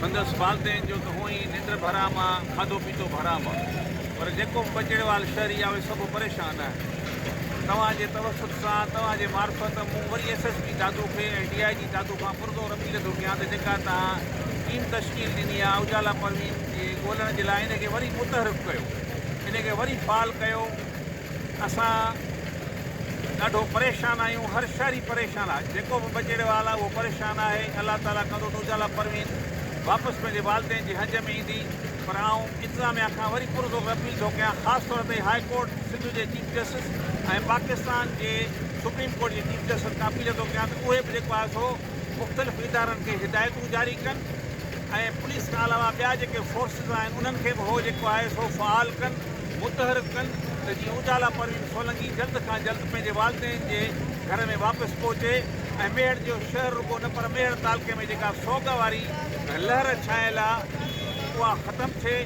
سندس والدين جو ته هونء ئي ننڊ به حرام آ، کاڌو پيتو به حرام آ، پر جيڪو به بجڙيوال شهري آ، اهي سڀ پريشان آهن. توهان جي توسط سان، توهان جي معرفت، مون وري ايس ايس پي دادو کي ۽ ڊي آء جي دادو کان پرزور اپيل ٿو ڪيان ته جيڪا توهان ٽيم تشڪيل ڏني آ، اجالا پروين کي ڳولڻ جي لاء ان کي وري متحرڪ ڪيو. ان کي وري فعال ڪيو. اسان ڏاڍو پريشان آهيون هر شهري پريشان آهي جيڪو به بجيڙي وال آهي اهو پريشان آهي الله تعالي ڪندو ته اجالا پروين واپس پنهنجي والدين جي هنج ۾ ايندي پر آئون انتظاميا کان وري پرزور اپيل ٿو ڪيان خاص طور تي هاء ڪورٽ سنڌ جي چيف جسٽس ۽ پاڪستان جي سپريم ڪورٽ جي چيف جسٽس کان اپيل ٿو ڪيان ته اهي به جيڪو آهي سو مختلف ادارن کي هدايتون جاري ڪن ۽ پوليس کان علاوه ٻيا جيڪي فورسز آهن انهن کي به هو جيڪو آهي سو فعال ڪن. متحرڪ ڪن ته جيئن اجالا پروين سولنگي جلد کان جلد پنهنجي والدين جي گهر ۾ واپس پهچي ۽ ميهڙ جو شهر رڳو نه پر ميهڙ تعلقي ۾ جيڪا سوڳ واري لهر ڇانيل آ اها ختم ٿئي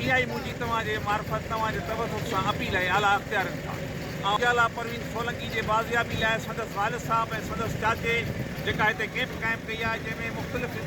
اهائي منهنجي توهان جي معرفت توهان جي توسط سان اپيل ۽ اعليٰ اختيارين کان آئون اجالا پروين سولنگي جي بازيابي لاء سندس والد صاحب ۽ سندس چاچي جيڪا هتي ڪيمپ قائم ڪئي آ جنهن ۾ مختلف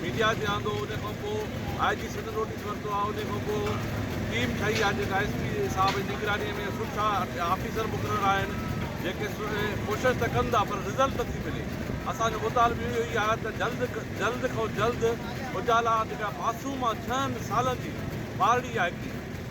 ميڊيا تي آندو انهي کان پوء آء جي سنڌ نوٽيس ورتو آهي انهي کان پوء ٽيم ٺهي آهي جيڪا ايس پي صاحب جي نگراني ۾ سٺا آفيسر مقرر آهن جيڪي ڪوشش ته ڪن ٿا پر رزلٽ نٿي ملي اسان جو مطالبو اهو ئي آهي ته جلد جلد کان جلد اجالا جيڪا معصوم آهي ڇهن سالن جي ٻارڙي آهي هڪڙي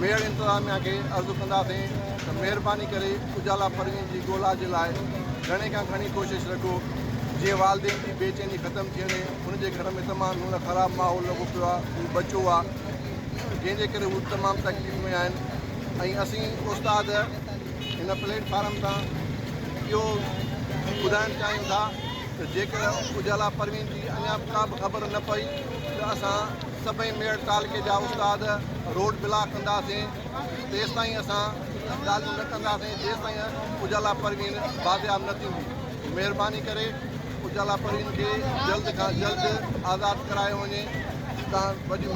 ميڙ انتظاميا کي عرض ڪنداسين ته مهرباني ڪري اجالا پروين جي ڳولا جي لاء گهڻي کان گهڻي ڪوشش رکو جيئن والدين جي بي چيني ختم ٿي وڃي هن جي گهر ۾ تمام گهڻو خراب ماحول لڳو پيو آهي هو ٻچو آهي جنهن جي ڪري هو تمام تڪليف ۾ آهن ۽ اسين استاد هن پليٽ فارم تان اهو ٻڌائڻ چاهيون ٿا ته جيڪر اجالا پروين جي اڃا ڪا به خبر نه پئي ته اسان سڀئي ميڙ تعلقي جا استاد روڊ بلاڪ ڪنداسين تيستائين اسان ڳالهيون نه ڪنداسين جيستائين اجالا پروين بازياب نه ٿيندي مهرباني ڪري اجالا پروين کي جلد کان جلد آزاد ڪرايو وڃي تان وڏي